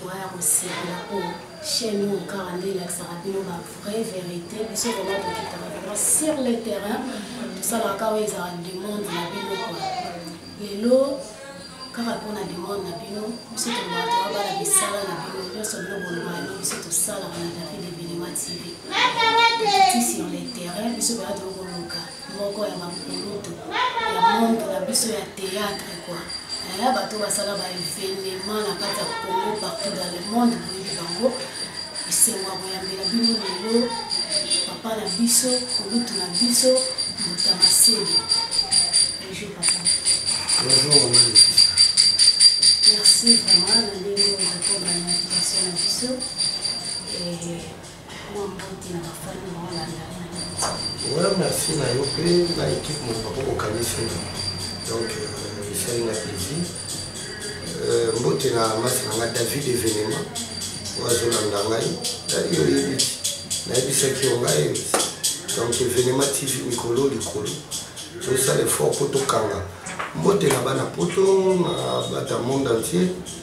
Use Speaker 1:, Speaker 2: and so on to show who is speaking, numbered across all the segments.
Speaker 1: Droit ya kosepela po chaîne oyo kaka nde elakisaka bino ba vraie verite biso vraiment tokitaka vraiment sur le terrain tosalaka kaka oyo ezalaka demande na bino kua lelo kaka mpona demande na bino biso tolobaka toa bana misala na bino nyonso bino bolobaka yango biso tosalaka na david evenema tv ti sur le terrain biso baya tokoluka moko ya bankulutu ya monde na biso ya théâtre kua ya bato basala baevenement na kati ya congo partout dans le monde boyebi bango esengo ya koyambela bino lelo papa na biso kulutu na biso moto ya maseli bonjour papa bonjour maman merci vraiment na ndenge oyo bakobana na biso na biso
Speaker 2: Ouais, merci na yo mpe na équipe moto bako kokanisa donc euh, esali na plaisir euh, mbote na masi na ngai david événement oyo azolanda ngai yo oyebi nayebisaki yo ngai donc événement tv mikolo likolo tosala effort mpo tokanga mbote na bana poto na bata monde entier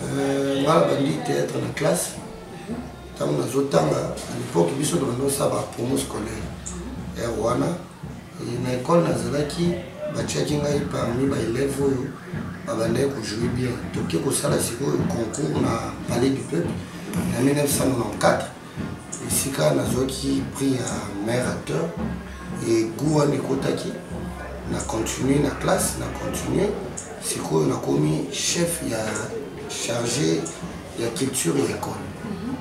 Speaker 1: Euh,
Speaker 2: nga nabandi théâtre na classe ntango mhm. nazotanga à l'époque biso tobandi osala ba promo scolaire er wana na ekole nazalaki batiaki ngai parmi baelève oyo babandaki kojoue bien toke kosala sikoyo concours na palais du peuple na 1994 esika nazwaki prix ya meilleur acteur e goût wana ekotaki na continue na classe na continue sikoyo nakomi chef ya chargé ya culture ya école mhm.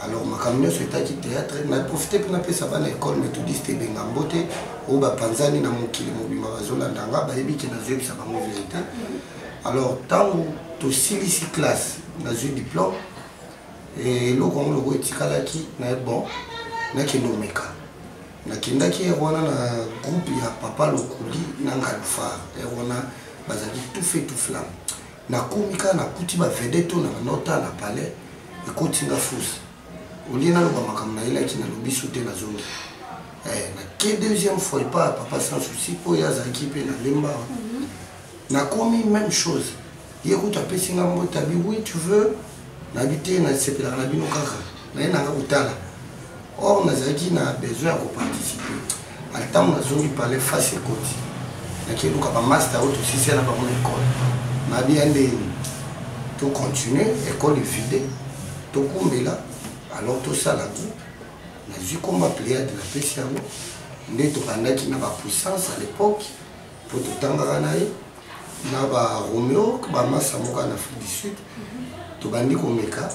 Speaker 2: alors makambo nyonso etaki théâtre na profite mpe napesa bana école méthodiste ebenga mbote oyo bapanzani na mokili mobima bazolanda nga bayebi ke nazoyebisa bango verité mhm. alors ntango tosilisi classe nazwi diplôme eloko yango loko etikalaki na bon nakende omeka nakendaki ere wana na groupe ya papa lokuli na ngalufar ere wana bazalaki tufe tuflame nakomi kaka nakuti bavedete oyo na banota na palais ekotinga fusi olie naloba makambo nayelaki nalobi su te nazongi eh, nake deuxième fois epa papa sans souci oyo azalaki mpe nalemba mm -hmm. nakomi même chose ye kutu apesi nga mbote abi oui tu veux nabi te nasepelaka na bino kaka naye nanga kotala or nazalaki na besoin ya koparticipe ata ntango nazongi pale face ekoti nakeluka bamasta oyo tosisia na bango na ekole nabi ya ndeni tocontinue ekole evide tokumbela alors tosala groupe nazwi komba pléade napesi yango nde tobandaki na bapuissance à l'époque mpo totangaka na ye na ba romeo bamasa moko na afrique du sud tobandi komeka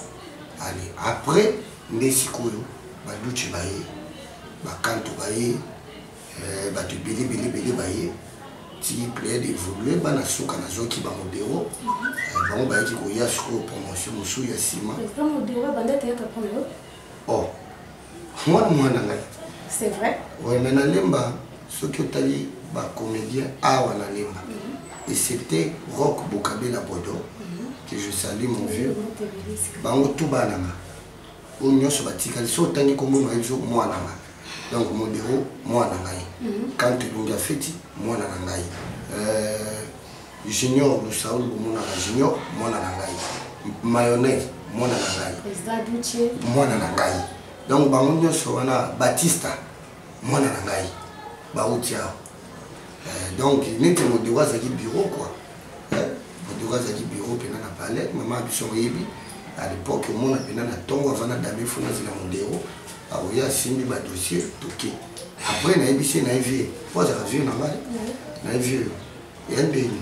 Speaker 2: ale après nde sikoyo baduce baye bakanto baye eh, bato ebele ebele ebele baye ti played évolue bana suka nazwaki bango biro eh, bango bayaki koya sikoyo promotion mosusu ya nsima
Speaker 1: o oh.
Speaker 2: mwana mwana ngai c'est vrai
Speaker 1: ouais mais nalemba
Speaker 2: soki otali bacomédien awa na lemba mhm. et c'était rock bokabela bodo mhm. que je salue mon vieux bango tu bananga oyo nyonso batikali so otangi kombo na biso mwana nga donc modero mwana ngai mhm. kante lungi afeti mwana na ngai euh, Junior Lusaul bomonaka Junior mwana na ngai mayonnaise mwana na ngai
Speaker 1: mwana na ngai
Speaker 2: donc bango nyonso wana batista mwana na ngai bauti awa eh, donc neti modeko azalaki bureau kua eh, modeko azalaki bureau mpena na palais mama ya biso oyebi à l'époque omona mpena na ntongo aza na dame fo nazela modero aoye asimbi badossier toke après nayebisi ye na ye vie mpo azalaka vie na ngai na ye vie ya ndenge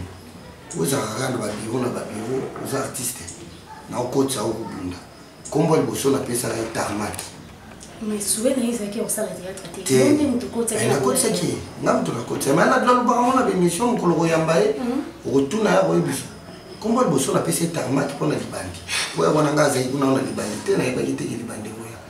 Speaker 2: ozalaka kaka na babiro na babiro oza artiste na okotisa o kobunda nkombo liboso napesaka ye tarmaki nakotisaki ye nga moto nakotisa mai nadula lobaka mona bemission mokolo koyamba ye mhm. okotuna ya koyebisa nkombo liboso napesi ye tarmaki mpo na libandi mpo ya wana nga azali kuna na libandi te nayebaki teke libandi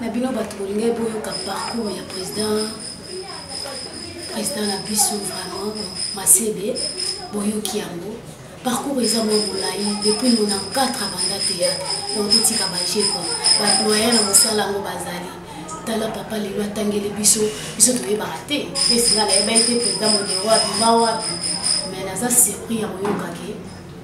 Speaker 2: na
Speaker 1: bino bato bolingai boyoka parcours ya président président na biso vraiment masebe boyoki yango parcours eza mwa molai depuis 94 abanda théâtre donc totika baje kua badoya na mosala yango bazali tala papa lelo atangeli biso biso toyebaka te mpe singa nayebaki te président modero abima wapi mais naza surpris ya koyokaki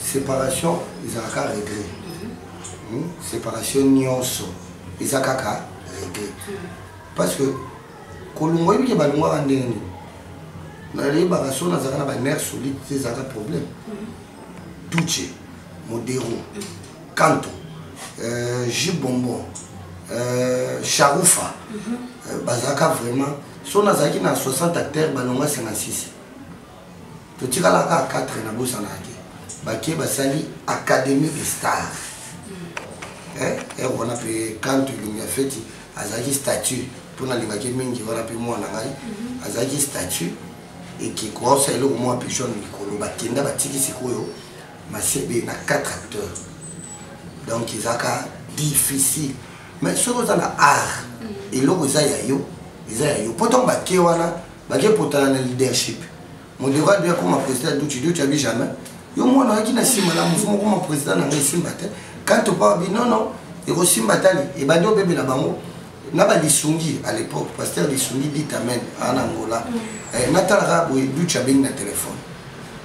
Speaker 2: separation ezalaka regret hmm? separation nyonso eza kaka regret parce que kolongwa ebike balongwaka ndenge nini nayebaka so nazalaka na baner solide te ezalaka problème tuche modero kanto euh, jus bonbon euh, sharufa euh, bazalaka vraiment so nazalaki na 60 acteur balongwa 56 totikala kaka 4 na bosanaka te bake basali académie de star hmm. eh, eh, wana mpe kanto elongi ya feti azalaki statut mpo nalingaki mingi wana mpe mwana ngai hmm. azalaki statut ekikosa eloko mwa mpe jaune likolo bakenda batiki sikoyo masebe na 4 acteurs donc ezalaka difficile mais soki oza na art hmm. eloko eza ya yo eza ya yo mpo ntango bake wana bake potana na leadership modero ade akoma président duci duci abi jamais yo mwana oyaki na nsima na mosu mokoma président na ngai esimba te kanto pa abi nono ekosimba tali ebandi obebela bango na balisungi à l'époque pasteur lisungi dit amen ana angola mm. eh, natalaka boye duci abengi na telefone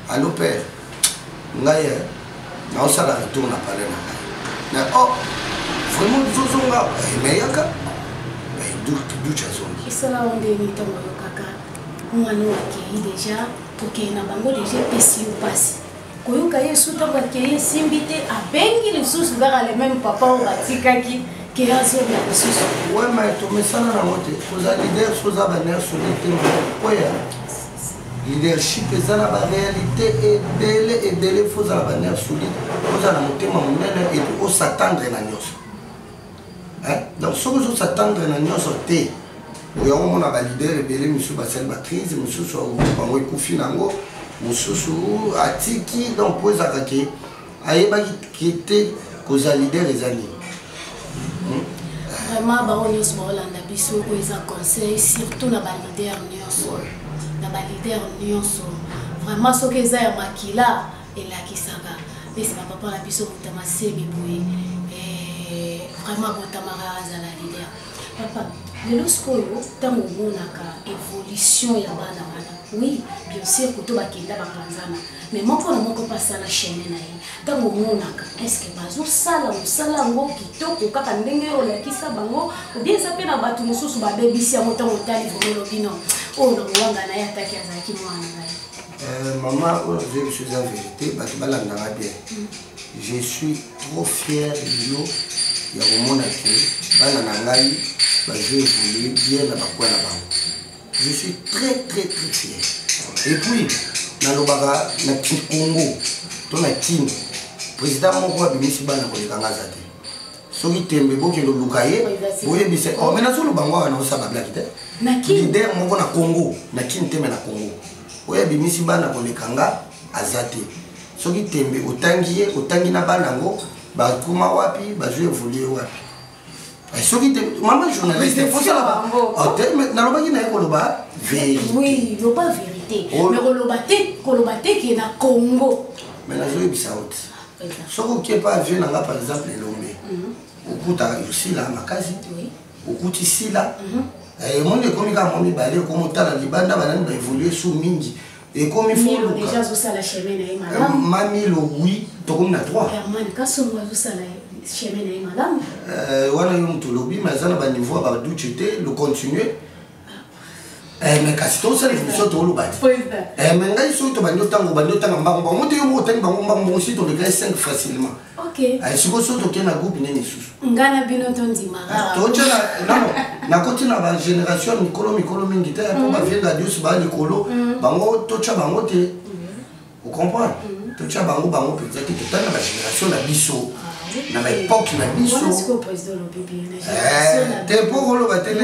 Speaker 2: Allo père, ngai eh, naosala retour na palais na ngai. Mais oh, vraiment tozozonga emeyaka eh, ducha eh, zongi. Esala yo ndenge ntango
Speaker 1: oyokaka mwana oyo akei deja kokei na bango deja epesi yo mpasi koyoka ye esu ntango akei esimbi te abengi lisusu kaka le meme papa oyo batikaki ke azonga lisusu wema tomesana
Speaker 2: nango te oza lider soza baner soli te oya Leadership eza na ba realite ebele ebele faut ozala ba nerf solide ozala na motema monene epuis osatandre na nyonso donc soki ozosatandre na nyonso te yango omona balider ebele mosusu basali bakrise mosusu bango ekufi na yango mosusu atiki donc mpo ezalaka ke ayebaki kete kozala leader eza nini hmm?
Speaker 1: vraiment bango nyonso baolanda biso oyo eza conseil surtout na balider nyonso na balider nyonso vraiment soki eza ya makila elakisaka esi bapapa na biso motama sebi boye eh, vraiment botamaka azala lider papa lelo sikoyo ntango omonaka évolution ya bana wana oui bien sûr kuto bakenda bapanzana mais moko na moko mpe asala chaine na ye ntango omonaka estce que bazosala mosala yango kitoko kaka ndenge oyo olakisa bango obie eza mpe na bato mosusu babebisi yango ntango otali vraimen olobi no oyo na kowanga na ye ataki azalaki mwana na ye eh, mama oyo azoyebisa
Speaker 2: eza verité bato balandaka bien mm. je suis trop fier de yo ya komona ke bana na ngai bazo évoluer bien na bakwa na bango je suis très très très fier et puis nalobaka na kikongo to na kin président moko abimisi bana koleka nga aza te soki tembe bokende oluka ye boyebisa oh, me nazoloba ngo awa naosala bablaki te lider
Speaker 1: moko na congo
Speaker 2: na kin teme na congo oyo abimisi bana koleka nga aza te soki tembe otangi ye otangi na bana yango bakoma wapi bazwi evolue wapi eh, soki te mama journaliste nalobaki na ye koloba verité loba
Speaker 1: verité oh. mais koloba
Speaker 2: te
Speaker 1: koloba te
Speaker 2: ke na
Speaker 1: congo mais nazoyebisa yo
Speaker 2: te
Speaker 1: ah,
Speaker 2: soki okie pa avion na nga par exemple elombe mhm. okutaka yosila makasi okuti sila mhm. eh, emoni ekomi kaka mwa mibale okomotala libanda banani baevolue su mingi ekomi foluka deja azosala chemin na ye malamu euh, mamilo oui tokomi na 3 herman kasongo azosala chemin na ye malamu euh, wana yo moto olobi ma eza na baniveau ya baduce te le continue eh, me kasi tosala émission toloba te eh, me ngai soki tobandi otanga obandi otanga mbango bango te yo moko otangi bango mbango bango si tolekaki 5 facilement Okay. Ay, siko so tokei na groupe nini lisusu nga na bino tondimaka ah, totia nakoti na bagénération mikolo mikolo mingi te mpo mhm. bavie radios baa likolo mhm. bango totya bango te mhm. ocomprendre totya bango bango mpenza te totali na bagénération na biso ah, na baepoke na biso eh, te mpo koloba te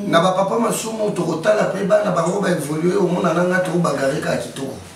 Speaker 2: na bapapa masumu tokotala mpe bana bango baevolue omonana nga tokobagareka kitoko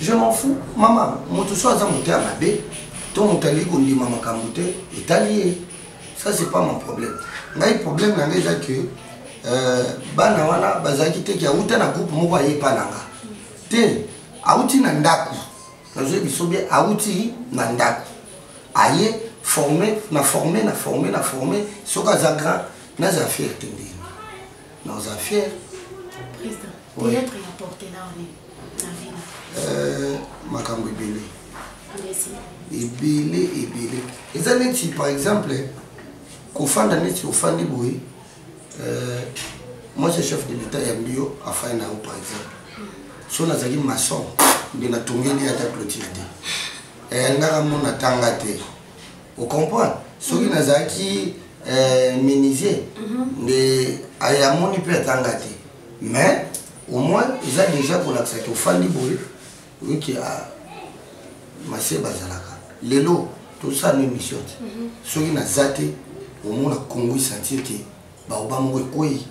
Speaker 2: je m'en fous mama moto so aza moto ya mabe to moto alingi kondima makambo te etali ye ça c'est pas mon problème ngai problème na ngai eza que euh, bana wana bazalaki te ke awuta na groupe moko aye epa na nga te awuti na ndako nazoyi biso bie awuti na ndako aye forme na forme na forme na forme soki aza grand naza fiere te nde na oza fier président théâtre ya porte na one na vina euh, makambo ebele ebele ebele eza neti par exemple kofanda neti ofandi boye euh, moi je chef de l'état ya mbio afai na yo par exemple so nazali maçon nde natongeli ata clotire te eyangaka mona tanga te o comprendre soki mhm. nazalaki euh, menuisier mhm. nde amoni mpe atanga te mais au moins eza déjà kolakisa ke ofandi boye oyiki ah, masie bazalaka lelo tosala no émission te mhm. soki naza te omona kongo esentir ke baoba moko ekwei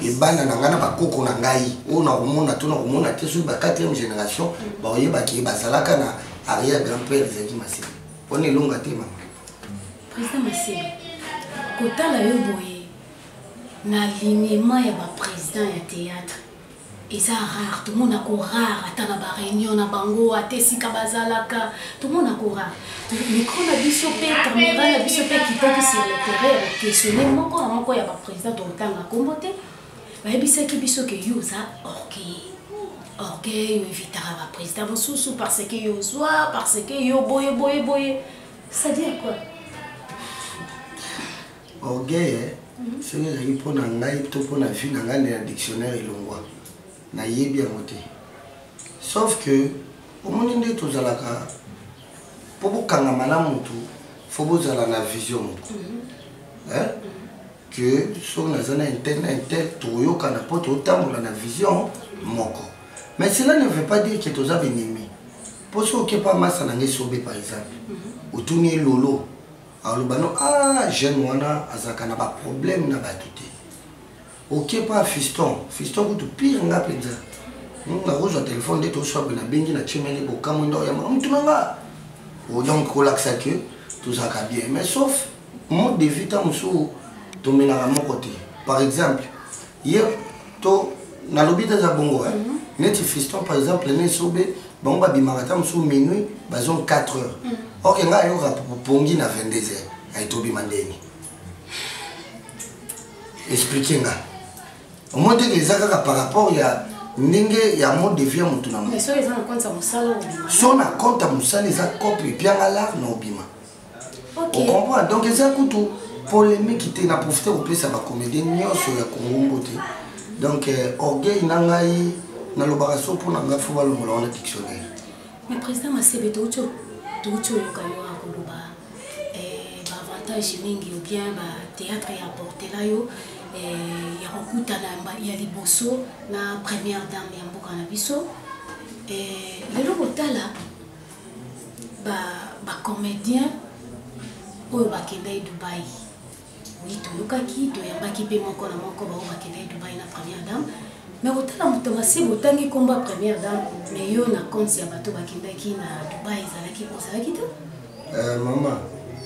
Speaker 2: ebanda na ngai na bakoko na ngai oyo nakomona to nakomona te soki ba 4e génération baoyebaki bazalaka na arrière grand père ezalaki masebe wana elonga te mama président
Speaker 1: masebe kotala yo boye na lignema ya baprésident ya théâtre eza rare tomona ko rare ata na ba réunion na bango ata esika bazalaka tomona ko rare micro na biso mpe camera na biso mpe ekitaki sur le terrain questionne moko na moko ya baprésident tokotanga nkombo te bayebisaki biso ke yo oza orgueil orgueil oevitaka baprésident mosusu parce que yo ozwa parce que yo boye boye boye c'est-à-dire quoi
Speaker 2: orgueil eh? mhm. soki ezali mpo na ngai to mpo na vie na ngai nde na dictionnaire elongwa nayebi yango te sauf que omoni nde tozalaka mpo bokangama na motu fo bozala na vision moko mhm. que soki naza na intel na intel tokoyokana mpo totambola na vision moko mais cela ne veut pas dire que toza benemi mpo soki okepa masa na ngai sobe par exemple mhm. otuni elolo aloba no a ah, jeune wana azalaka na baproblème na bato te okepa fiston fiston kutu pire nga mpenza nakozwa telefone nde toswabe nabengi na chemene bokamwe ndao ya motu na nga oh, donc kolakisa ke tozalaka bien mais sauf mode de vie ta mosusu tomenaka moko te par exemple ye to nalobi te eza bongo hein. mm -hmm. neti fiston par exemple ne esobe bango babimaka ata mosusu minuit bazongi 4 heures mm -hmm. orke ngai ayoka pongi na 22 heures ayetobima ndeni explike nga omoi teke eza kaka par rapport ya ndenge ya mode de vie ya motu na moso na konta mosala eza kope epianga lar na obima okay. ocomprendre donc eza kutu polémique te na profite kopesa bacomédie nyonso ya kongongo te donc euh, orgueil na ngai nalobaka so mpo na ngai fo balongola wana dictionnaire mais président
Speaker 1: masebe touti touti oyoka yo akoloba euh, baavantage mingi ou bien bathéâtre ya portela yo euh, ya kokutana ya liboso na première dame ya mboka na biso lelo kotala ba ba comediens oyo bakendaki dubai oui toyokaki toyambaki mpe moko na moko baoyo bakendaki dubai na première dame me kotala moto masiba otangi nkombo ya première dame me yo na compte ya bato bakendaki na dubai ezalaki ozalaki te eh, mama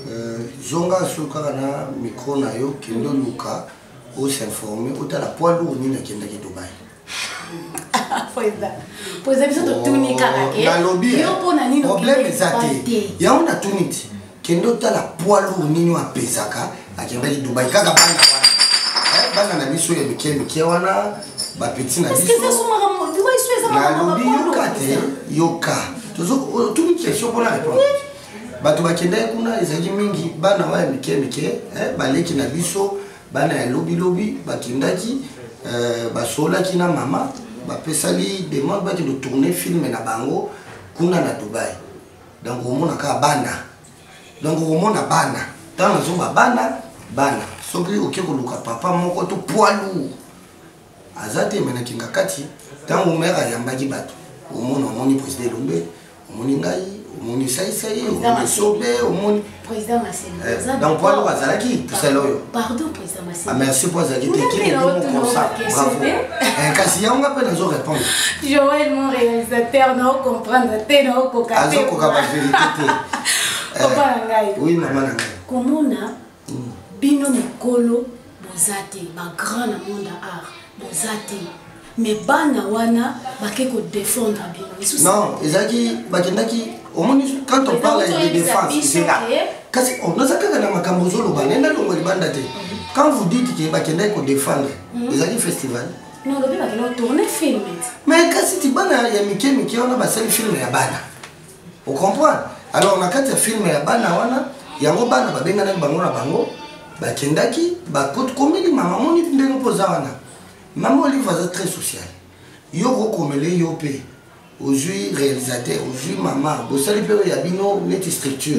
Speaker 2: eh, zonga so kaka na micro na yo kende oluka osinforme otala poids lourd nini akendaki dubai
Speaker 1: po eza biso totuni kaka te nalobi yo mpo na nini problème eza te
Speaker 2: yango natuni ti kende otala poids lourd nini oyo apesaka akendaki dubai kaka bana wana eh, bana na biso ya mike mike wana bapeti na biso nalobi yoka te yoka tozotuni question mpona répondre bato bakendaki kuna ezalaki mingi bana wana ya mike mike eh, baleki na biso bana ya lobilobi bakendaki euh, basolaki na mama bapesali demande bakende tourne filme na bango kuna na dubai donc omona kaka bana donc okomona bana ntango nazoba bana bana soki oke koluka papa moko to poids lourd aza te me na kingakati ntango mere ayambaki bato omona omoni président elombe omoni ngai omoni saisai omoni sobe omoni eh,
Speaker 1: donc po aloko azalaki
Speaker 2: tosala oyo
Speaker 1: ah, merci po azalaki te
Speaker 2: kinemokonsa bravo eh, kasi yango nga mpe nazo répondre joel mon
Speaker 1: réalisateur nao comprendre te naokoka azokoka baverité
Speaker 2: te eh,
Speaker 1: oui mama na ngai
Speaker 2: komona
Speaker 1: bino mikolo boza te ba grand na monde ya art boza te mais bana wana bake kodefendre bino lisusu non ezalaki
Speaker 2: bakendaki omoni quand on parle de défense ezela kasi oh, naza kaka na makambo ozoloba naye nalongo libanda te quand vous dites ke bakendaki kodefendre mhm. ezalaki festival
Speaker 1: mais kasi ti
Speaker 2: bana ya mike mike wana basali filme ya bana ocomprendre alors na kati ya filme ya bana wana yango bana babenganaki bango na bango bakendaki bakomeli mama moni ndenge mpo oza wana mama olive aza très social yo kokomele yo mpe ozwi réalisateur ozwi mama bosali mpe oyo ya bino neti structure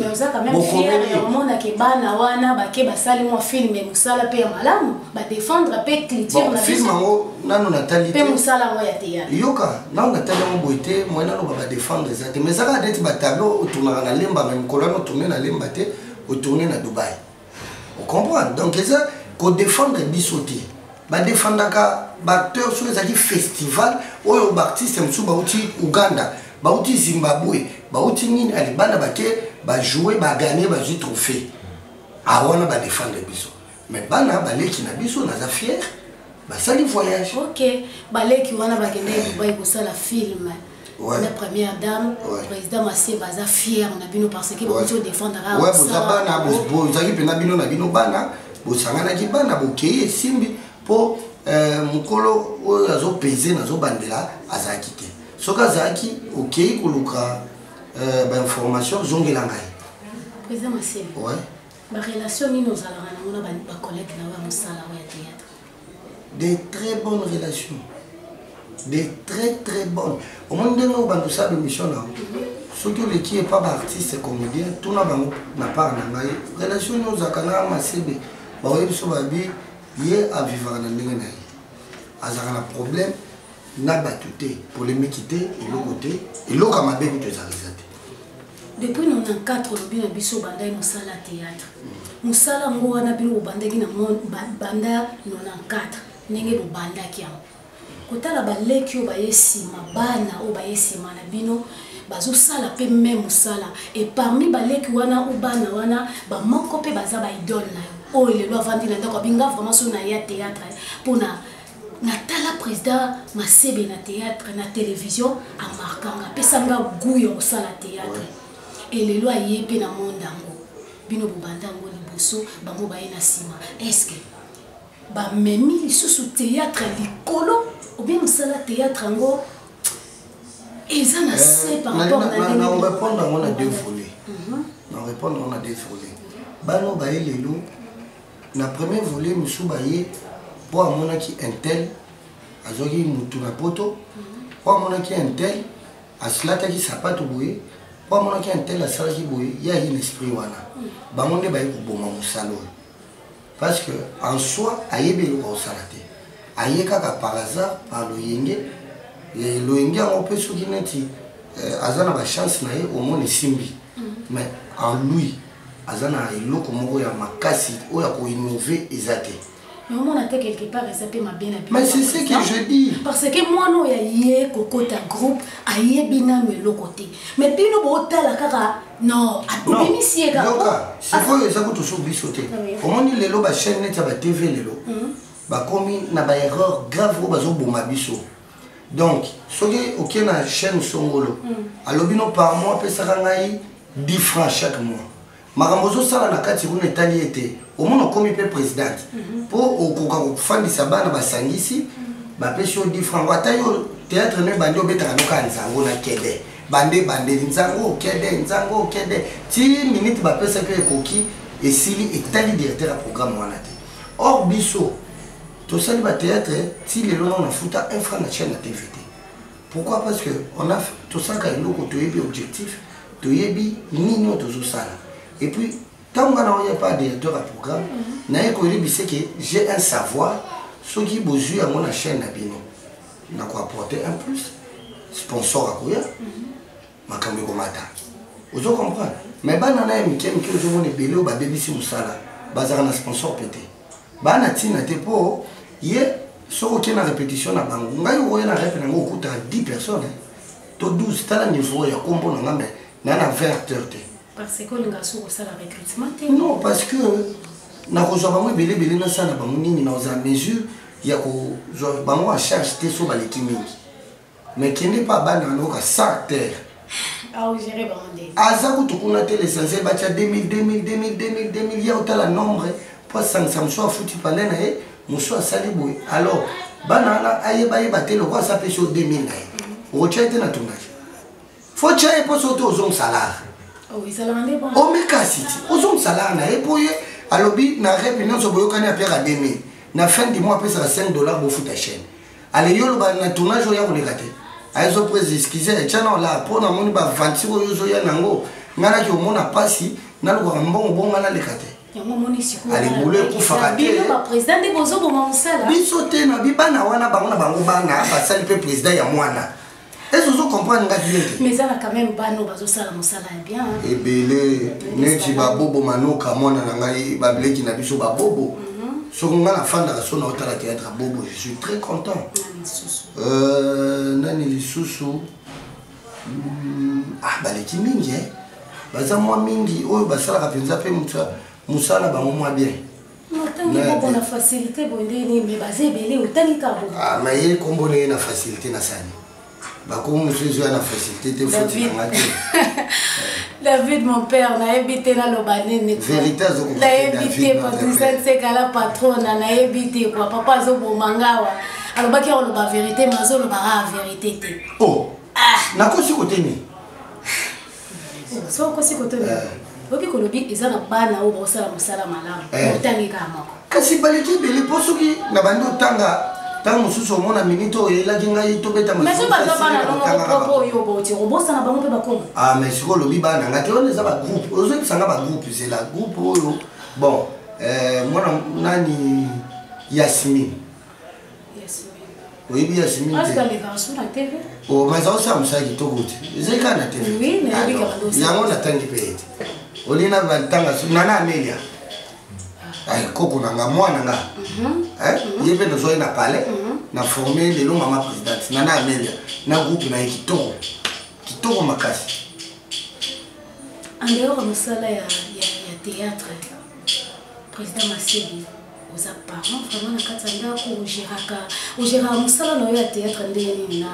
Speaker 1: omonake bana wana bake basali mwa filme mosala mpe ya malamu badefendre mpe cliturefilme yango nanu
Speaker 2: natali te
Speaker 1: mosala yango ya teyatre yoka nanu natali
Speaker 2: yango boye te moye naloba badefendre eza te mais ezaka neti batableau otunaka na lemba me mokolo wana otourne na lemba te otourne na dubai ocomprendre donc eza kodefendre biso te badefendaka baacteur soki ezalaki festival oyo baartiste mosusu bauti uganda bauti zimbabwe bauti nini alibanda bake bajoue baganie bazwi trophée awana badefendre biso mais bana baleki na biso naza fier basali voyage ok baleki
Speaker 1: wana bakendaki dubai kosala film ouais. la première dame ouais. président masie baza fier na bino parce que bakoki odefendaka ouais, boza bana
Speaker 2: bozalaki mpenza bino na bino bana bosanganaki bana bokei esimbi mpo euh, mokolo oyo azopeze nazobandela azalaki te soki azalaki okei koluka euh, bainformation zongela ngai ouais.
Speaker 1: Ba
Speaker 2: relation
Speaker 1: nini ozalaka nango na ba collègues na yo ya mosala oyo ya théâtre?
Speaker 2: Des très bonnes relations. Des très très bonnes. Omoni ndenge obanda osala émission na yango. Soki oleki epa ba artiste comédien tuna bango na part na ngai relation nini ozalaka na masebe baoye biso babi ye avivaka na ndenge na ye azalaka na problème na bato te polemiki te eloko te eloko ya mabe kutu ezalaka depuis 94
Speaker 1: olobi na biso obandaki mosala ya théâtre mosala yango wana bino bobandaki na banda 94 ndenge bobandaki yango kotala baleki oyo baye nsima bana oyo baye nsima na bino bazosala mpe me mosala e parmi baleki wana o bana wana bamoko mpe baza baidole na yo oyo lelo avandi na ndako abinga vraimen so na ya théâtre mpona natala président masebe na théâtre na télévision amarkanga apesa nga gout ya kosala théâtre e lelo aye mpe na monde yango bino bobanda yango liboso bango baye na nsima estce bamemi lisusu théâtre likolo obie mosala théâtre yango eza na se eh, par rapport na orépondre yango na
Speaker 2: deux volet na orépondre yango na deux volet bano baye lelo na premier volet mosusu baye mpo amonaki intel azwaki mutu na poto mpo amonaki intel asilataki sapato boye mpo amonaki intel asalaki boye ye aye na esprit wana bango nde baye koboma mosala oyo parce que en soi ayebi eloko akosala te aye kaka par hasard par loyenge loyenge yango mpe soki neti euh, aza na bachance na ye omona esimbi mais en lui aza na eloko moko ya makasi oyo akoinnove eza te mais omona te
Speaker 1: quelque part eza mpe mabe na mais c'est ce que je
Speaker 2: dis parce que mwana oyo
Speaker 1: aye kokota groupe ayebi nano eloko te mais bino bootala kaka non abimisi ye kaka sikoyo
Speaker 2: eza kutu so biso te omoni lelo bachaine neti ya batv lelo hmm. bakomi na baerreur grave oyo bazoboma biso donc soki okie na chaîne songolo hmm. alobi no par mois apesaka ngai 10 francs chaque mois makambo ozosala na kati kuna etali ete omona okomi mpe presidente mpo mhm. okoka kofandisa bana basangisi mhm. bapesi yo 10 francs ata yo théâtre no ebandi obetaka noka nzango na kede bande ebandeli nzango okede nzango okede ti minute bapesaki yo ekoki esili etali directeur ya programme wana te or biso tosali bateatre ti lelo nao nafuta un franc na chaine ya tv te pourquoi parce que on a tosalaka eloko toyebi objectif toyebi nini oyo tozosala et puis ntango nga naoya pa directeur ya programme naye koyebisa ke j'ai un savoir soki bozwi yango na chaîne na bino nakoapporte un plus sponsor akoya makambo ekomata ozo comprendre me bana naye mike mike ozomona ebele oyo babebisi mosala bazalaka na sponsor mpe te bana ntina te mpo ye soki okei na répétition na bango ngai okoya na repe nango okutaka 10 personnes eh. to 12 tala niveau ya kombo na nga me na na 20 acteur te
Speaker 1: non parce que
Speaker 2: nakozwa bango ebele ebele nasala bango nini nakozala mesure ya kozwa bango en charge te so baleki mingi mais kende pa bana na loka sans terre
Speaker 1: aza kutu kuna
Speaker 2: te l'essentiel batya 2000 2000 2000 2000 2000 ya otala nombre mpo asangisa mosusu afuti pale na ye mosusu asali boye alors bana wana ayebayeba te lokola asa apesi yo 2000 na ye okotya ye te na tournage fo tya ye mposo te ozongisa lar
Speaker 1: omikasi ti
Speaker 2: ozongisa lar na ye mpo ye alobi na repe nyonso boyokani apesaka 2000 na fin du mois apesaka 5 dollar bofuta chaine ale yo oloba na tournage oya koleka te ayezo prise excuse etya na ola mpo namoni bavanti oyo ozoya nango ngai naki omona mpasi nalukaka mbongo bo ngai naleka te alibulu ekufaka
Speaker 1: tebiso te na bibana
Speaker 2: wana bango na bango bana basali mpe président ya mwana Est-ce que vous comprenez nga bien Mais eza na quand
Speaker 1: même bano bazo sala musala ya bien. Hein. Ebele
Speaker 2: neti ba bobo manoka mwana na ngai ba bleki na biso ba bobo. Mhm. Soko nga na fanda so na otala théâtre bobo, je suis très content. Euh nani lisusu hmm, ah baleki mingi hein. Baza mwa mingi oyo basalaka penza pe musala musala bango mwa bien. otangi
Speaker 1: bongo na facilité boye nde nini me baza ebele otangi kaka bongo ah, ma ye nkombo na ye
Speaker 2: na facilité na sani bakomi mosusu ezwa na facilité te foti nanga te
Speaker 1: david mon père nayebi te naloba nini
Speaker 2: nayebi te
Speaker 1: patricia nsekala patrona nayebi te kua papa azoboma ngawa alobaki akoloba verité ma azolobaka verité te oh.
Speaker 2: ah. nakosi koteni
Speaker 1: soki okosi kotoyeba eh. oyoki kolobi eza na bana oyo bakosala mosala malamu eh. otangi kaka moko kasi baleki ebele
Speaker 2: mpo soki na bandi otanga ntango mosusu omona minite oyo eyelaki ngai tobeta masuobosana
Speaker 1: bango mpe bakoma ah, mais sikoy olobi bana ngai
Speaker 2: te wana eza bagroupe ozoyebisa ngai bagroupe zela groupe oyo bon eh, mwana nani yasmine oyebi ya simi
Speaker 1: o mais aosala
Speaker 2: mosala kitoko te ezali kaka na tv
Speaker 1: yango natangi mpe ete
Speaker 2: olie na bantanga nana amelia ah. koko na nga mwana nga mhm. Mhm. ye mpe nazwaki na palais mhm. na forme lelo mama présidente nana amelia na groupe na ye kitoko kitoko makasi en
Speaker 1: dehors ya mosala ya théâtre président masebi oza parent vraiment na kati ya ndako ogeraka ogeraka mosala na yo ya théâtre ndenge nini na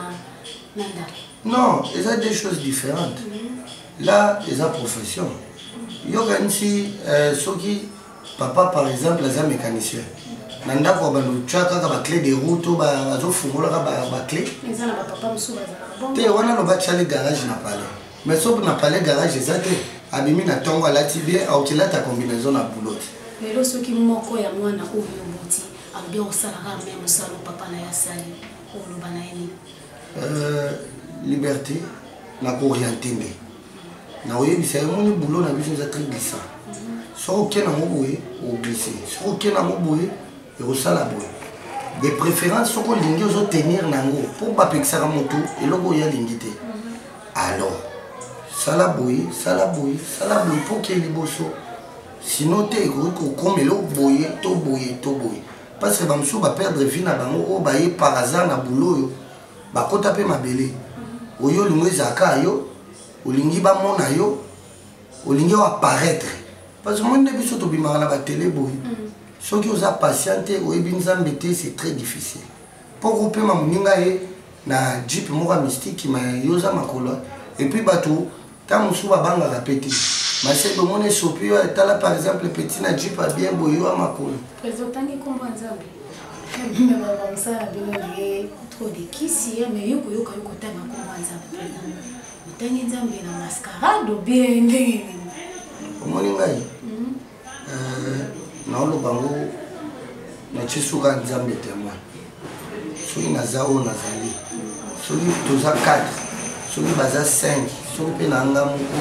Speaker 1: na ndako non eza
Speaker 2: deux choses différentes mhm. là eza profession yokanisi euh, soki papa par exemple aza mécanicien na ndako ya bando tya kaka baclé de route to bazofungolaka baclé
Speaker 1: te wana loba tyali
Speaker 2: garage na palais mais soki na palais garage eza te abimi na ntongo alati bien aokilata combinaison na boulot lelo soki
Speaker 1: moko ya mwana oyo oboti alobi akosalaka me mosala papa na ye asali oloba na ye nini euh, liberté
Speaker 2: na kooriente nde na oyebisa ye moni boulot na biso eza très glissant mhm. soki oke nango boye oglise soki oke nango boye ekosala boye de préférence soki olingi ozotenir na yango mpo bapekisaka motu eloko oyo alingi te alors sala boye sala boye sala boye mpo ke liboso sino te ekoki kokoma eloko boye to boye to boye parce que bamosusu baperdre vie na bango oyo baye par hasard na boulot oyo bakota mpe mabele oyo olingo ezalaka yo olingi bamona yo olingi o apparaître parce que moi nde biso tobimaka na batele boye mm. soki oza patient te oyebi nzambe te c'est très difficile mpo kopema moninga ye na jeep moko ya mystike ma yo oza makolo epuis bato ntango mosusu babangaka mpe te masebe omona esopi yo etala par exemple petit na jeep ya bien boye yo ya makolo trop
Speaker 1: de kisi mais yo koyoka yo kotanga kombo ya nzambe Otangi Nzambe na mascarade ou bien ndenge nini? Omoni
Speaker 2: ngai? Hmm. Euh, naoloba yango natie suka Nzambe témoin. Soki naza oyo nazali, soki toza 4, soki baza 5, soki mpe na nga moko,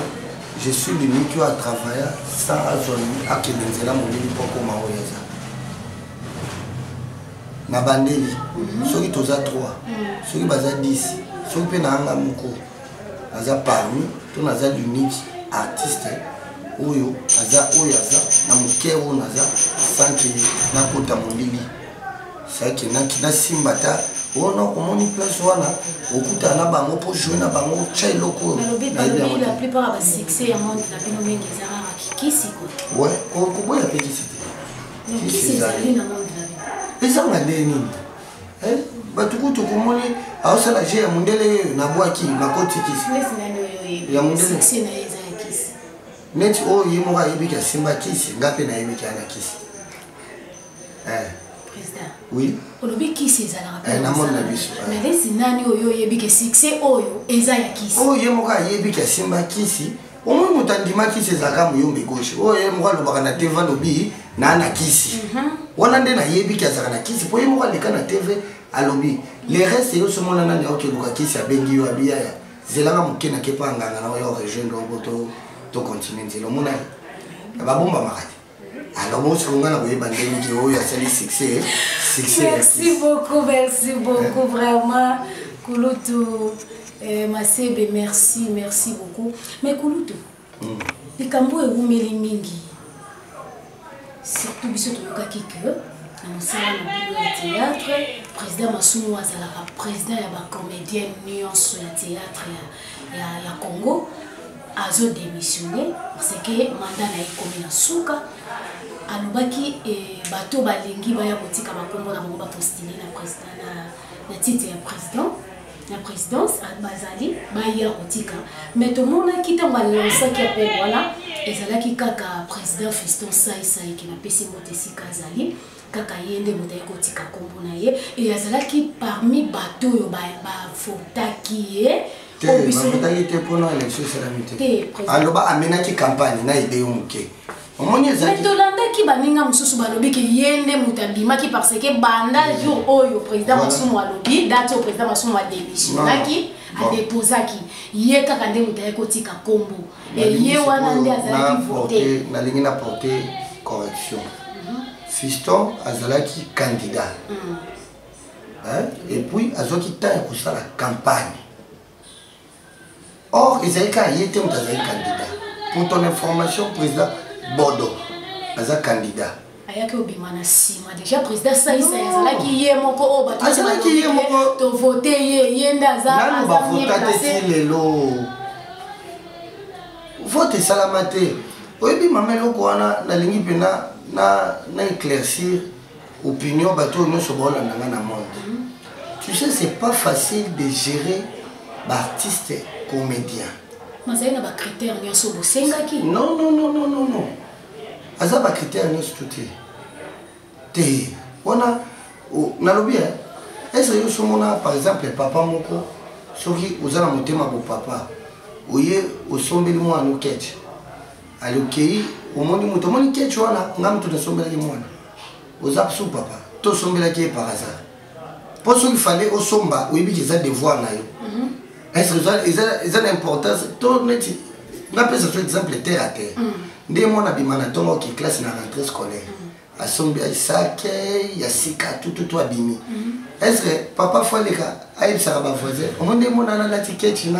Speaker 2: je suis l'unique oyo atravailla sans azwa akende nzela molili mpo akoma oyo aza. na bandeli mhm. soki toza 3 mhm. soki baza 10 soki mpe naanga moko aza parmi to naza unique artiste oyo aza oyo aza na moke oyo naza sanke nakota molili sake nasimba ta wana omoni place wana okutana na bango mpo joue na bango tya eloko
Speaker 1: oyo koboya mpe
Speaker 2: kisi te
Speaker 1: ezanga nde
Speaker 2: nini eh? bato kutu komoni aosala je ya mondele nabwaki nakoti kisi ya mondele
Speaker 1: neti oyo
Speaker 2: ye moko ayebiki asimba kisi nga mpe nayebiki ana kisi eh.
Speaker 1: oui olobi
Speaker 2: kisi
Speaker 1: ezalaka eh, namoni na biso melesi
Speaker 2: nani
Speaker 1: oyo oyebiki succès oyo eza ya kisi oyo ye moko ayebiki
Speaker 2: asimba kisi omoi moto andima kisi ezalaka moyombe gauche oyo ye moko alobaka na tv alobi naa na kisi mhm. wana nde nayebi ki azalaka na kisi mpo ye moko aleka na tv alobi le reste yo somona nani aokeluka kisi abengi yo abiyaya zelaka moke na kepa anganga na oyo rejoindre obo tocontinue nzela omonaki babombamaka te alors bongo sikoyo ngai nakoyeba ndenge oyo asali succès succès merci beaucoup
Speaker 1: merci beaucoup vraiment kulutu eh, masebe merci merci beaucoup mais kulutu hmm. likambo oyo ewumeli mingi surtout biso toyokaki ke na mosala na bino ya théâtre président masumu azalaka président ya bacomédienne nyonso ya théâtre ya, ya, ya congo azo demissionne parce que manda na ye ekomi na suka alobaki eh, bato balingi baya kotika bakombo na bango bapostile na president na, na titre ya président na présidence ah, bazali baya kotika mais tomonaki ntango alansaki appel wana ezalaki kaka président fiston saisai ke napesi moto esika azali kaka ye nde moto aye kotika nkombo na ye e azalaki parmi bato oyo bavotaki ye
Speaker 2: bavotaki te mpona election esalami te aloba amenaki campagne na ide yo moke omoni ezali
Speaker 1: tolandaki baninga mosusu balobi ke ye nde moto abimaki parce que banda jour oyo président masumu alobi date oyo président masumu ademissionaki adeposaki ye kaka nde moto aye kotika nkombo eye wana nde azalaki vote nalingi na porte
Speaker 2: correction mhm. fiston azalaki candidat mhm. et puis azwaki temps ya kosala campagne or ezali kaka ye te moto azali candidat pour ton information président bodo aza candidat ayaki obima na
Speaker 1: nsima deja président asalisa ye azalaki ye moko oyo batoazalaki ye moko tovote ye ye nde azananu bavota te ti
Speaker 2: lelo vote esalama te oyebi mama eloko wana nalingi mpe na na na éclaircir opinion bato oyo nyonso baolanda nga na monde mhm. tu sais c'est pas facile de gérer baartiste comédien mazali na
Speaker 1: bacritère nyonso bosengaki non non non non non,
Speaker 2: non. aza ba critère nyonso to te te wana nalobi eh, ese yo somona par exemple papa moko soki oza na motema bo papa oye osombeli mwana no ketch ali okei omoni moto omoni ketch wana nga moto nasombelaki mwana oza su papa tosombelaki ye par hasard mpo soki fale osomba oyebi ke eza devoir na yo mhm. eza na importance to neti napesa so exemple terre à terre mhm. nde mwana abima na ntongo oke classe na rentrée scolaire mhm. asombi aisake ya sika tututu abimi est ce que papa fo aleka ayebisaka bavoisin omoni nde mwana nalati kechi na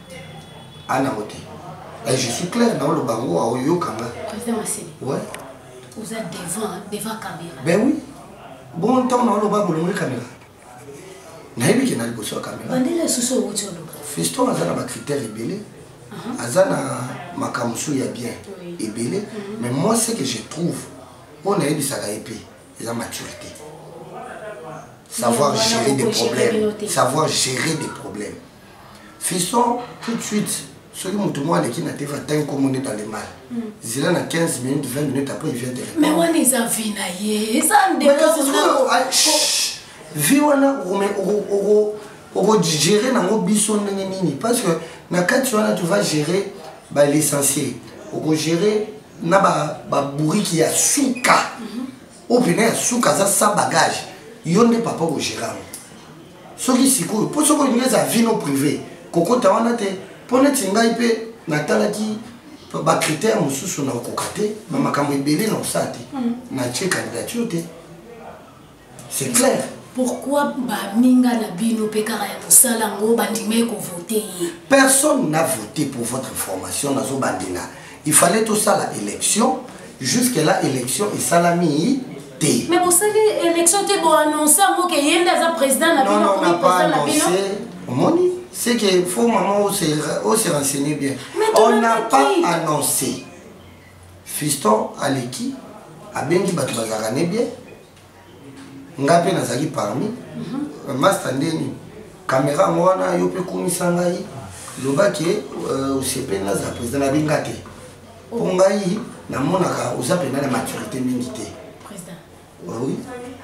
Speaker 2: ana ote eh, je suis clair na oloba ngo aoyoka nga président masini
Speaker 1: ouais
Speaker 2: oza
Speaker 1: devant devant caméra ben oui
Speaker 2: bon ntango na oloba bolongoli caméra nayebi ke na liboso ya caméra bandela lisusu owuti
Speaker 1: oloba fiston aza na
Speaker 2: bacritère ebele uh-huh. aza na makambo mosusu ya bien ebele uh-huh. mais moi ce que je trouve oyo nayebisaka ye mpe eza maturité savoir gérer des problèmes savoir gérer des problèmes fiston tout de suite soki moto moko aleki na tv atangi nkombo nde dans le mal hmm. zela na 15 minutes 20 minutes après il vient mais wana eza vi
Speaker 1: na ye eza vi
Speaker 2: wana okodigere nango biso ndenge nini parce que na kati wana tu va gérer balicencie okogere na babouriki ya suka mm -hmm. oyo pena ya suka aza sa bagage yo nde papa okogera yango soki sikoyo mpo soki olingi eza vino privé kokota wana te mpo neti ngai mpe natalaki bacritère mosusu na okoka te na makambo ebele na osala te mm. natie candidature te c'est clair pourquoi
Speaker 1: baninga na bino mpe kaka ya mosala yango bandimai kovote ye personne na
Speaker 2: vote pour votre information nazobandela il fallait tosala élection jusque là élection esalami te mais bosali élection
Speaker 1: te boannonce yango ke ye nde aza président na bino akomi président na bino
Speaker 2: omoni c'est que faut maman ose oh, oh, renseigner bien on n'a pas annoncé fiston aleki abengi bato bazalaka ne bien nga mpe nazali parmi mhm. masta nde nini kamera yango wana yo mpe kumisa ngai loba ke euh, osepeli naza président na binga te mpo oh. ngai namonaka oza mpenza na maturité mingi te
Speaker 1: oui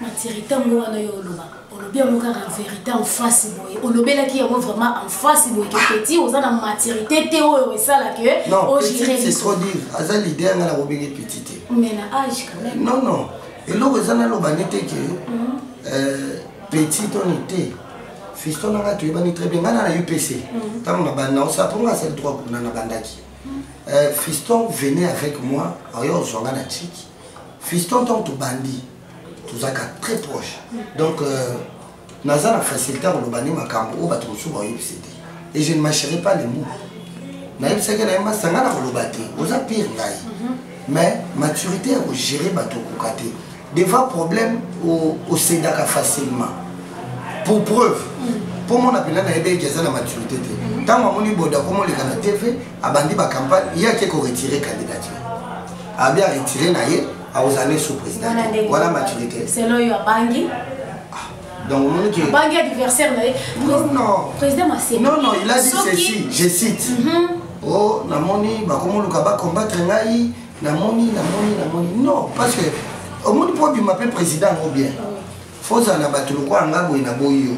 Speaker 2: maturité yango
Speaker 1: wana yo oloba olobi yango kaka en vérité en face boye olobelaki yango vraiment en face boye ke petit oza na maturité te oyo esala ke ogire trop
Speaker 2: dire aza leader ngai nakobenge petit te mais na age
Speaker 1: quand même non non eloko
Speaker 2: eza naloba nde te ke euh, petit to ni te fiston na ngai toyebani très bien ngai na na upc ntango na banda osala mpo ngai asali droit kuna na bandaki euh, fiston venait avec moi oyo oh, ozwa ngai na chiki fiston ntango tobandi tozalaka très proche donc euh, naza na facilité ya koloba nde makambo oyo bato mosusu baoyebisi te et je ne marcherai pas les mots nayebisaki na ye masanga na koloba te oza pire ngai mhm. mais maturité ya kogere bato okoka te devant problème osedaka facilement pour preuve mpo mhm. mona mpena nayebi eke aza na maturité te mhm. ntango amoni boda komoleka na tv abandi bacampagne ye ake koretire candidature abi aretire na ye akozala nde sous président wana maturité selon yo abangi
Speaker 1: donc
Speaker 2: omoni ke bangi
Speaker 1: adversaire na ye
Speaker 2: président maseki non
Speaker 1: non il a dit ceci
Speaker 2: je cite mhm. o oh, namoni bakomoluka bacombattre ngai namoni namoni namoni non parce que omoni mpo obima mpe président yango bien fozala na bato lokola ngai boye na boyi yo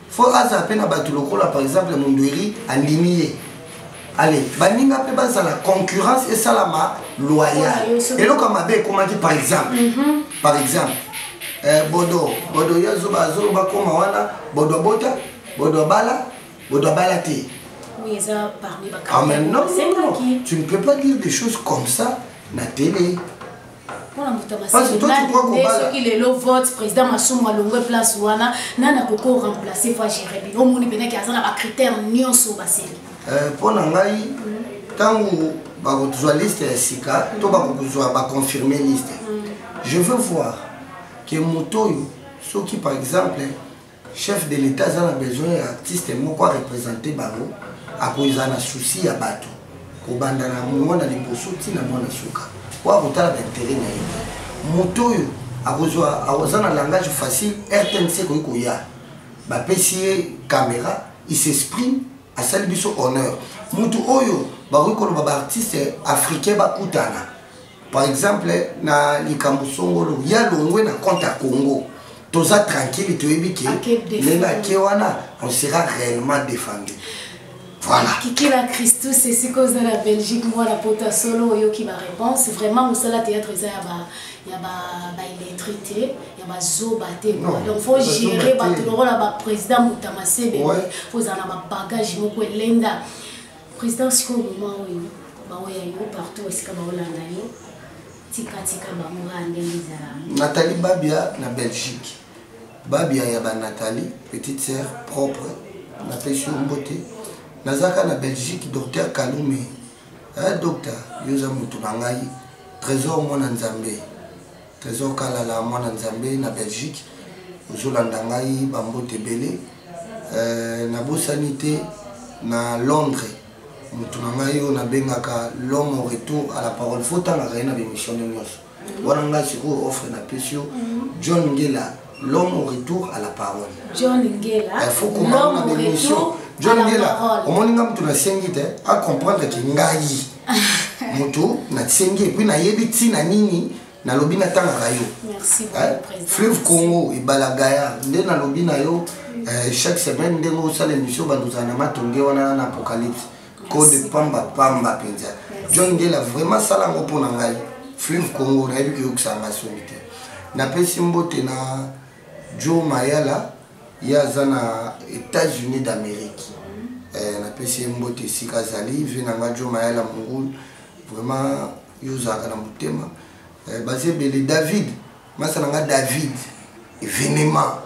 Speaker 2: fo aza mpe na bato lokola par exemple mondweri andimi ye ale baninga mpe bazala concurrence esalama loyal eloko ya mabe ekomaki par exemple mhm. par exemple eh, bodo bodo ye azoba azoloba koma wana bodo abota bodo abala bodo abala te Oui, ça
Speaker 1: parmi ah, mais non, non,
Speaker 2: non, tu ne peux pas dire des choses comme ça na télé mpona
Speaker 1: moto ya masinonde soki lelo vote président masumu alongwe place wana nani akoko remplace fo agere bino omoni mpenaki aza na bacritère nyonso baseli mpo eh, na ngai
Speaker 2: ntango mm. bakozwa liste ya sika to mm. bakozwa baconfirme liste mm. je veux voir ke moto oyo soki par exemple chef de l'etat aza na besoin ya artiste moko arepresente bango akozala na souci ya bato kobanda na mwana liboso ntina mwana suka po akotala baintere na ye te moto oyo akozwa akoza na langage facile rtnc ekoki koya bapesi ye caméra il s'exprime asali biso honneur moto oyo bakoki koloba baartiste africain bakutana par exemple na likambo songolo ya longwe na compte ya congo toza tranquille toyebi ke ndenge ake wana on sera réellement défendu voilà kikila
Speaker 1: christus esika oza na belgique mwana pota solo oyoki baréponse vraiment mosala théâtre eza ya ba ya baillettre te ya bazoba te donc faut gérer bato lokola baprésident motamasebe fozala na babagage moko elenda President sikoyo moma oyo baoya yo partout esika baolanda yo tikatika bango kaka ndenge ezala natali babia
Speaker 2: na belgique babia ya banatali petite sœur propre napesi yo mbote nazalaka na belgique docteur kalume eh, docteur yo oza motu na ngai trésor mwana nzambe Tresor Kalala mwana Nzambe na Belgique ozolanda ngai bambote ebele euh, nabosani te na Londres motu na ngai oyo nabengaka l'homme au retour à la parole fotangaka ye na bemission nde nyonso wana ngai sikoyo offre napesi yo mhm. John Ngela L'homme au retour à la parole. John Ngela.
Speaker 1: Il faut qu'on m'a
Speaker 2: des missions. John Ngela, au moins nous tu l'as sengi te, à comprendre que ngai. Moto na sengi et puis na yebi tina nini na lobi na tanga rayo. Merci beaucoup
Speaker 1: hein? président. Fleuve Congo et
Speaker 2: Balagaya, nde na lobi na yo euh, chaque semaine nde ngo sala émission ba nous anama tongue wana na apocalypse. code pamba pamba mpenza john ngela vraiment sala yango mpo na ngai fleuve congo nayebi koyokisa ngai soni te napesi mbote na joe mayala ye aza na états-unis d'amérique eh, napesi ye mbote esika azali vie na ngai joe mayala mongulu vraiment yo ozalaka na motema eh, baza ebele david masa na nga david evenement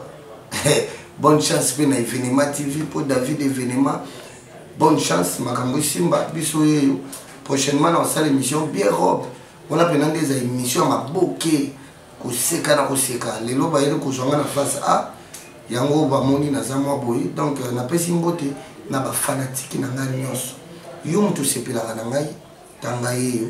Speaker 2: bonne chance mpe na evenement tv mpo david evenement bonne chance makambo esimba biso yeyo prochainement na kosala émission bien robe wana mpena nde eza émission ya maboke koseka na koseka lelo bayeli kozwa nga na face a yango bamoni naza mwa boye donc euh, napesi mbote na bafanatiki na ngai nyonso yo moto osepelaka na ngai tanga yeyo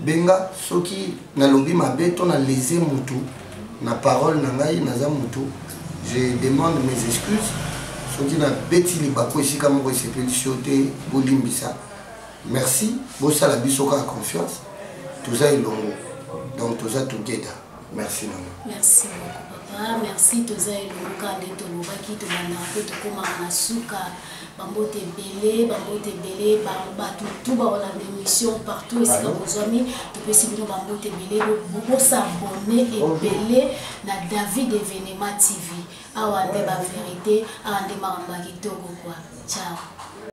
Speaker 2: benga soki nalobi mabe to na lese mutu na parole na ngai naza mutu je demande mes excuses soki nabeti libaku esika moko esepelisi yo te bolimbisa merci bosala biso kaka confiance toza elongo donc toza together merci mama merci beaucoup
Speaker 1: papa merci toza elongo kaka nde tolobaki tobandaka mpe tokomaka na suka bambote ebele bambote ebele bato tu baona bémission partout esika bozwami topesi bino bambote ebele bosabone ebele na david evenema tv awa nde baverité awa nde makambo ya kitoko kua ciao